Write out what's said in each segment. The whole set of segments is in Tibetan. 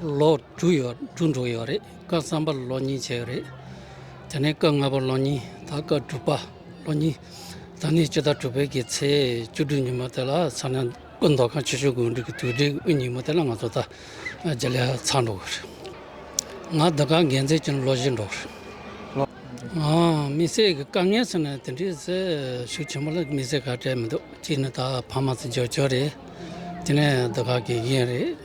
ལོ་དྲུག་ཡོད་དྲུག་འགྲོ་ཡོད་རེད་སྐབས་གསང་པ་ལོ་གཉིས་བྱས་ཡོད་རེད་དེ་ནས་སྐབས་ལྔ་པ་ལོ་གཉིས་ད་སྐབས་དྲུག་པ་ལོ་གཉིས་ད་ནི་སྤྱི་ཟླ་དྲུག་པའི་གི་ཚེས་བཅུ་དྲུག་ཉིན་མོ་དེ་ལ་ཚང་ནས་སྐུ་མདོག་ཁང་ཆེ་ཆུང་དགོན་སྒྲིག་གི་དུས་དྲན་གྱི་དབུ་ཉིན་མོ་དེ་ལ་ང་ཚོ་ད་རྗེས་ལས་ཚང་འགྲོ་གི་རེད་ང་འདི་ག་འགན་འཛིན་གྱི་ལོ་བཞི་འགྲོ་གི་རེད་ལོ་མི་སེར་གྱི་དཀའ་ངལ་ཟེར་ན་དེ་འདྲའི་ཤུགས་ཆེན་པོ་ལ་མི་སེར་ག་བྲལ་མི་འདུག་གཅིག་ནི་ད་ཕ་མ་ཚོ་འཇོག་ཆོག་རེད་དེ་ནས་འདི་ག་གི་ཡིན་རེད།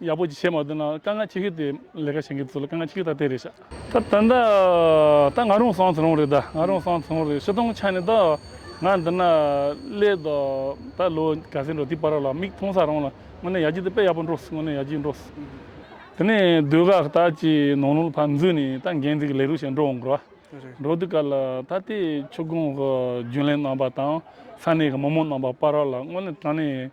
ཡག་པོ་བྱས་མ་འདུག་ན་དཀའ་ངལ་ཆེ་གི་དེ་ལས་ཀ་བྱེད་མཁན་ཚོ་ལ་དཀའ་ངལ་ཆེ་གི་ད་དེ་རེད་ཤག། ད་ད་ནི་ད་ང་རང་སང་ཚེ་རང་རེད་ད་ང་རང་སང་ཚེ་རང་རེད་ཕྱི་སྟོང་ཆ་ནི་ད་ང་འདི་ན་སླེབས་ད་ད་ལོ་ག་ཚད་འགྲོ་དེ་པར་ར་ལ་མིག་མཐོང་ས་རང་ལ་དངོས་ནས་ཡག་ཅིག་དེ་དཔེ་ཡག་པོ་འགྲོ་སྲིད་དངོས་ནས་ཡག་ཅིག་འགྲོ་སྲིད། དེ་ནས་སྡོད་ཁག་ལྟ་ཅི་ནང་ལུང་ཕར་འཛུལ་ནས་ད་འགན་འཛིན་གྱི་ལས་རོགས་བྱེད་འགྲོ་འོང་གི་ར། འགྲོ་དུས་ག་ལ་ད་དེ་ཆུ་སྒང་གི་རྒྱུན་ལས་རྣམ་པ་དང་ས་གནས་ཀྱི་མི་མང་རྣམ་པ་པར་ར་ལ་དངོས་ནས་ད་ནི།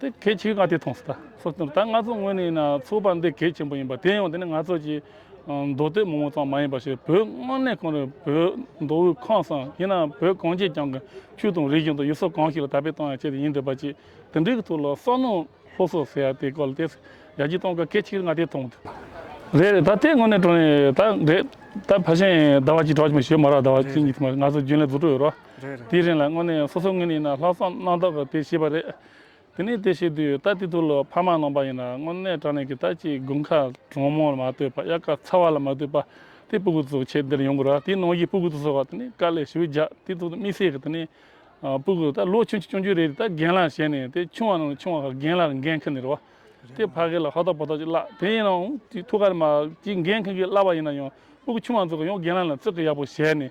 དེ་གལ་ཆེ་གི་ང་དེ་མཐོང་སྲིད་ད། སོགས་དང་ད་ང་ཚོ་ངོས་ནས་ཡིན་ན་ཚོགས་པ་འདི་གལ་ཆེན་པོ་ཡིན་པ་དེ་ཡང་དེ་ནི་ང་ཚོ་ཀྱི་མདོ་སྟོད་མང་བོ་ཙམ་མ་ཡིན་པ་ཞིག་བོད་དངོས་གནས་གང་རེད་བོད་མདོ་དབུས་ཁམས་སམ་ཡིན་ན་བོད་གངས་ཅན་རྒྱང་གི་ཆུ་དང་རི་བཞིན་དུ་ཡུལ་སྲོལ་གང་ཞིག་ལ་དར་སྤེལ་གཏོང་ཡ་ཆེད་དུ་ཡིན་འདི་པ་ཅི་དེ་འདྲའི་གི་ཐུགས་ལ་བསམ་མནོ་ལྷོ་སོ་ཟེར་ཡ་དེ་སྐོར་ལ་བལྟས་ཚེ་ཡ་ཅི་གཏོང་གལ་ཆེ་གི་ང་དེ་མཐོང་ཐུབ། རེད་རེད་ད་དེ་ངོས་ནས་དྲོ་ནས་ད་རེད་ད་ཕ་གཞན་ཟླ་བ་གཅིག་གྲོགས་ཀྱི་མི་ཞོལ་མ་རག་ཟླ་བ་གཅིག་གཉིས་ཐིམ་པ་ང་ཚོ་རྒྱུན་ལས་རྫུ་འཕྲུལ་ཡོད་རོགས། དེའི་རིང་ལ་དངོས་གནས་སོ་སོའི་ངོས་ནས་ཡིན་ན་ལྷག་བསམ་རྣམ་དག་གིས་དེ་བྱས་པ་རེད། དེ་ནས་དེ་བྱེད་དུས་ད་དེ་དུས་ལོ་ཕ་མ་ནང་པ་ཡིན་ན་དངོས་གནས་དྲང་གནས་ཀྱི་ད་ཅིག་དགུན་ཁ་གྲང་མོ་ལ་མ་ལྟོས་པར་དབྱར་ཁ་ཚ་བ་ལ་མ་ལྟོས་པར་དེ་སྤུ་གུ་དུ་ཚོ་ཁྱེད་འདིར་ཡོང་དགོས་ར་དེའི་ནང་བཞིན་སྤུ་གུ་དུ་ཚོ་ད་ནི་དཀའ་ལས་ཞུ་རྒྱག་དེ་ཚོ་དམིགས་བསལ་གྱིས་ད་ནི་སྤུ་གུ་ད་ལོ་ཆུང་ཆུང་ཆུང་ཆུང་རེ་རེ་ད་རྒན་ལ་བྱས་ནས་དེ་ཆུང་བ་རྣམས་ལ་ཆུང་བ་ཁ་རྒན་ལ་རྒན་མཁན་ནི་རེད་བ། དེ་ཕ་གི་ལ་ཧོ་ཐོག་པོ་ཐོག་ཅིག་བརླག་དེ་ཡིན་ནའང་ཐུགས་ཁར་མ་གཅིག་རྒན་མཁན་གྱིས་བརླག་པ་ཡིན་ན་ཡང་སྤུ་གུ་ཆུང་བ་ཚོ་གི་ཡང་རྒན་ལ་ལ་བརྩི་བཀུར་ཡག་པོ་བྱས་ནས་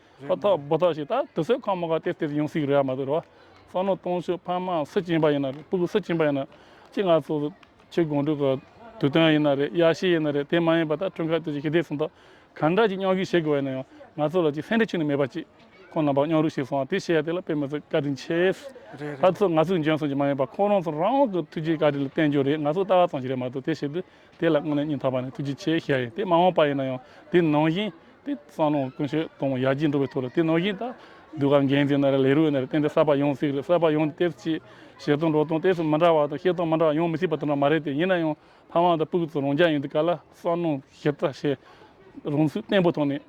ཁ་ཐག་སྦོ་ཐག་ཞིག་ད་དུ་སོས་ཁང་མ་ག་སྟེར་སྟེར་ཡོང་སྲིད་ཀྱི་རེད་ཨ་མ་ཟེར་བ། བསམ་བློ་གཏོང་ཆོག་ཕ་མ་སུ་སྐྱེན་པ་ཡིན་ན་རེད་སྤུ་གུ་སུ་སྐྱེན་པ་ཡིན་ན་ཅི་ང་ཚོ་ཁྱི་དགོང་དྲུག་གི་དུས་སྟོན་ཡིན་ན་རེད་ཡ་ཤེས་ཡིན་ན་རེད་དེ་མ་ཡིན་པ་ད་ཁྲུན་ཁ་ཏེ་ཅིག་ཞི་བདེ་སུམ་རྟགས་གང་འདྲ་ཅིག་སྙོག་ཤིག་བྱེད་དགོས་བ་ཡིན་ན་ཡང་ང་ཚོ་ལ་ཅིག་སེམས་ཁྲལ་ཆུང་ནས་མེད་པ་ཅིག་ཁོང་རྣམ་པ་སྙོག་རུག་བྱེད་སོང་བ་དེ་བྱས་ཡ་དེ་ལ་དཔེ་མི་ཚོས་བཀའ་དྲིན་ཆེ། ད་ཚོ་ང་ཚོས་འཇོན་སོང་གྱི་མ་ཡིན་པ་ཁོང་རང་ཚོ་རང་དབང་གི་ཐུགས་རྗེའི་བཀའ་དྲིན་ལ་བརྟེན་རྒྱུ་རེད་ང་ཚོ་ལྟ་བ་ཙམ་ཞིག་རེད་མ་གཏོགས་དེ་བྱེད་དུས་དེ་ལ་དངོས་གནས་སྙིང་ཐག་པ་ནས་ཐུགས་རྗེ་ཆེ་ཞེས་བྱ་ཡི་དེ་མ་འོངས་པ་ཡིན་ན་ཡང་དེ་ནང་བཞིན་དེ་གསང་སྔགས་ཀུན་སྤྱོད་གཏོང་བ་ཡར་རྒྱས་འགྲོ་བའི་ཐོག་ལ་དེ་ནང་བཞིན་དང། གདུལ་བ་འགན་འཛིན་ན་རེ་ལས་རུས་ན་རེ་བསྟན་དེ་གསར་པ་ཡོང་སྲིད་རེད་གསར་པ་ཡོང་དེ་གཏེར་ཆེ་བྱེད་སྟངས་འགྲོ་སྟངས་གཏེར་མི་འདྲ་བ་དང་བཤད་སྟངས་མི་འདྲ་བ་ཡོང་མི་སྲིད་པ་དེ་འདྲ་མ་རེད་དེ་ཡིན་ན་ཡང་ཕ་མ་དང་སྤུག་ཚོ་རང་རྒྱ་ཡིན་དེ་ག་ལ་གསང་སྔགས་ཞིབ་ཕྲ་བྱེད་རུང་ཚུལ་བརྟན་པོ་ཐོག་ནས།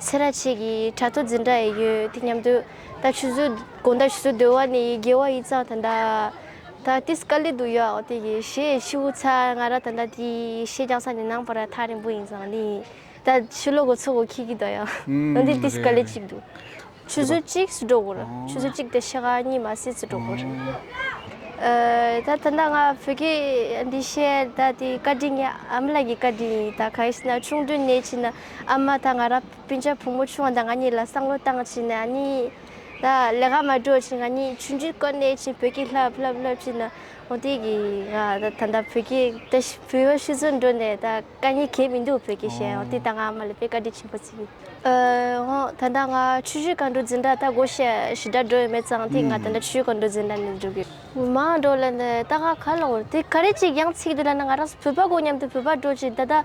ཚེ་ར་བྱེས་ཀྱི་དྲ་ཐོག་འཛིན་གྲྭ་ཡི་ཡོད་དེ་མཉམ་དུ་ད་ཆུ་ཟོས་དགོང་ད་ཆུ་ཟོས་སྡོད་བ་ནི་ཡི་རྒྱལ་བ་ཡིད་ཙང་ད་ད་ད་ཏིས་ཀ་ལི་དུ་ཡོའོ་དེ་ཡི་ཞེས་ཕྱི་འུ་ཚ་ང་ར་ད་ད་དེ་ཡི་ཞེས་རྒྱང་ས་ནི་ནང་པ་ར་ཐག་རིང་པོ་ཡིན་ཙང་དེ་ཡི་ད་ཆུ་ལོ་གོ་ཚོ་གོ་ཁིག་གི་དོ་ཡོ་འོན་ཏེ་ཏིས་ཀ་ལི་གཅིག་དུ་ཆུ་ཟོས་གཅིག་སུ་འགྲོ་གོར་ཆུ་ཟོས་གཅིག་དེ་ཤ་ག་གཉིས་མ་སེ་སུ་འགྲོ་གོར་ད་ད་ད་ང་བོད་སྐད་འདི་བཤད་ད་དེ་བཀའ་དྲིན་ཨ་མ་ལགས་ཀྱི་བཀའ་དྲིན་ཡིན་ད་ག་ཡིས་ན་ཆུང་དུས་ནས་ཕྱིན་ན་ཨ་མ་དང་ང་རང་སྤུན་ཆེད་བུ་མོ་ཆུང་བ་དང་ང་གཉིས་ལ་བསམ་བློ་བཏང་བྱས་ནས་ཨ་ནི། ད་ལས་ཀ་མ་འགྲོ་བྱས་ང་གཉིས་ཆུ་འགྲུལ་སྐོར་གནས་བྱས་བོད་སྐད་ལྷབ་ལྷབ་ལྷབ་བྱས་ན་འོ་དེ་གི་ང་ད་ད་བོད་སྐད་ད་བོད་པ་ཤི་ཚོད་འགྲོ་ནས་ད་དཀའ་ངལ་གས་མི་འདུག་བོད་སྐད་བཤད་འོ་དེ་ད་ང་ཨ་མ་ལ་དཔེ་བཀའ་དྲིན་ཆེན་པོ་བརྩི། ཨོ་ད་ད་ང་ཆུ་འགྲུལ་སྐར་འགྲོ་འཛིན་གྲྭ་ད་སྒོ་ཞེ་ཞེ་དྲག་འགྲོ་ཡོད་མེད་ཙང་དེ་ང་ད་ད་ཆུ་འགྲུལ་སྐར་འགྲོ་འཛིན་གྲྭ་ནས་འགྲོ་གི། མ་འགྲོ་ལ་ད་ད་ང་ག་ལ་འོང་དེ་ག་རེ་ཅིག་ཡང་ཚིག་འདི་ལ་ན་ང་རང་ཚོ་བོད་པ་གོ་སྙམ་དུ་བོད་པ་འགྲོ་བྱས་ད་ད།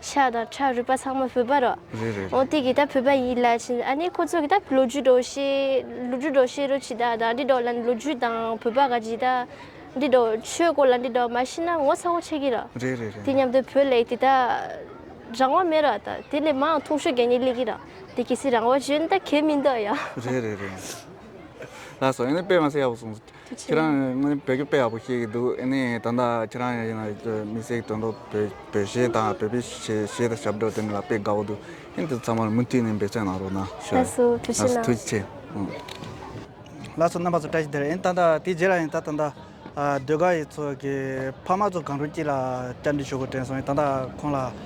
ཤ་དང་ཁྲག་རུས་པ་ཚང་མ་བུད་པར་རོ། རེད་རེད་རེད། འོ་དེ་གི་ད་བུད་པ་ཡིན་ལ་ཕྱིན་ཨ་ནི་ཁོ་ཚོ་གི་ད་ལོ་རྒྱུས་འགྲོ་ཤེས་ལོ་རྒྱུས་འགྲོ་ཤེས་རུ་ཕྱིན་ད་ད་འདི་འགྲོ་ལ་ལོ་རྒྱུས་དང་བུད་པ་ག་ཇི་ད་འདི་འགྲོ་ཆོས་སྐོར་ལ་འདི་འགྲོ་མ་ཤེས་ན་ངོ་ཚ་བོ་ཆེ་གི་ར། རེད་རེད་རེད། དེ་མཉམ་དུ་བོད་ལེགས་དེ་ད་རང་དབང་མེད་ར་ད་དེ་ལས་མའང་ཐུང་ཤོས་གད་སྙིགས་ལེགས་གི་ར་དེ་གི་སི་རང་དབང་བྱོན་ད་གད་མི་འདུག་ཡ། རེད་རེད་རེད། ལགས་སོ་ཨ་ནི་དཔེ་མ་ཟེར་ཡག་པོ་གསུངས། ཁྱེད་རང་དངོས་བོད་སྐད་དཔེ་ཡག་པོ་ཤེས་ཀྱི་འདུག་ཨེ་ནས་ད་ལྟ་ཁྱེད་རང་ཡིན་ན་མི་སེར་གྱི་དོན་དུ་བོད་གཞས་དང་བོད་པའི་གཞས་དང་ཞབས་བྲོ་དེ་འདྲ་ལ་དཔེ་དགའ་བོ་འདུག་ཨེ་འདི་ཚང་མར་མུ་མཐུད་ནས་འབད་བྱ་གནང་རོགས་གནང་ཞུ། ལགས་སོ་ཐུགས་ཆེ་ལགས། ལགས་སོ་རྣམ་པ་ཚོ་བཀྲ་ཤིས་བདེ་ལེགས་ཨེ་ད་ལྟ་དེ་རྗེས་ལ་ཡིན་ད་ད་ལྟ་ཟློས་གར་ཡིག་ཚོགས་ཀྱི་ཕ་མ་ཚོ་གངས་རུ་སྐྱིད་ལ་བཅར་འདྲི་ཞུ་དགོས་དྲན་སོང་ཨེ་ད་ད་ཁོང་ལ།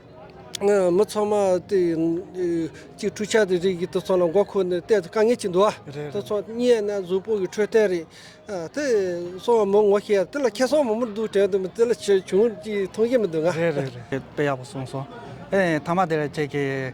མི་ཚང་མ་གཅིག་འཕྲུལ་ཆས་དེ་རིགས་ཀྱིས་དུས་ཚོད་ལ་མགོ་འཁོར་ནས་གཏན་དུ་དཀའ་ངལ་ཅིག་འདུག་དུས་ཚོད་རྙེད་ན་གཟུགས་པོ་གི་འཕྲོད་བསྟེན་རེད། དེ་སོང་བ་མི་ངོ་ཤེས་དེ་ལ་ཁྱེད་སོང་མ་མོ་འདུག་དྲན་དུ་མི་དེ་ལ་ཆེ་ཆུང་ཅིག་མཐོང་ཞིག་མི་འདུག་ང། རེད་རེད་རེད་དཔེ་ཡག་པོ་གསུངས་སོང། ཨེ་ཐ་མ་དེ་ལ་ཁྱེད་ཀྱིས།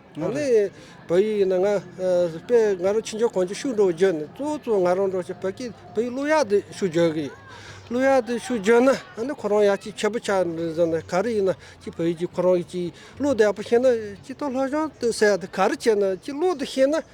ང་ལས་བོད་ཡིག་ཡིན་ན་ང་དཔེ་ང་རང་ཕྱི་འབྱོར་གང་ཅི་ཤུགས་འགྲོ་བརྗོད་ནས་གཙོ་བོ་ང་རང་འགྲོ་བྱེད་བོད་ཀྱི་བོད་ཡིག་གླུ་ཡག་དེ་ཤུགས་བརྗོད་ཀྱི་ཡོད་གླུ་ཡག་དེ་ཤུགས་བརྗོད་ན་ཨ་ནི་ཁོ་རང་ཡག་ཅིག་ཁྱད་པོ་ཆགས་ནས་བཟོ་ན་ག་རེ་ཡིན་ན་ཅིག་བོད་ཡིག་ཅིག་ཁོ་རང་གི་ཅིག་གླུ་དེ་ཡག་པོ་ཤེས་ན་ཅིག་སྟོད་ལྷོ་གཞོང་དུ་ཟེར་ཡག་དེ་ག་རེ་བྱས་ན་ཅིག་གླུ་དེ་ཤེས་ན།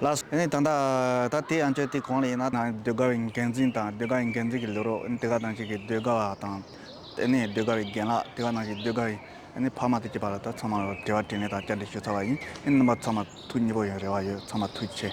ལ་སོགས་ཡིན། དང། ད་དེ་ཡང་ཁྱོད་དེ་གང་ལ་ཡིན་ན། ནང་ཟློས་གར་བའི་འགན་འཛིན་དང་ཟློས་གར་བའི་འགན་འཛིན་གྱི་ལུས་རོགས་དེ་ག་ནང་བཞིན་གྱི་ཟློས་གར་བ་དང། དེ་ནས་ཟློས་གར་བའི་རྒན་ལགས་དེ་ག་ནང་བཞིན་ཟློས་གར་བའི་ཕ་མ་དེ་གཅིག་པ་ལ་ད་ཚང་མར་དྲི་བ་དྲིས་ལན་དང་བཅར་འདྲི་ཞུ་ཚར་བ་ཡིན། རྣམ་པ་ཚང་མ་ཐུགས་མཉེས་པོ་ཡོད་རེ་བ་ཡོད་ཚང་མ་ཐུགས་ཆེ།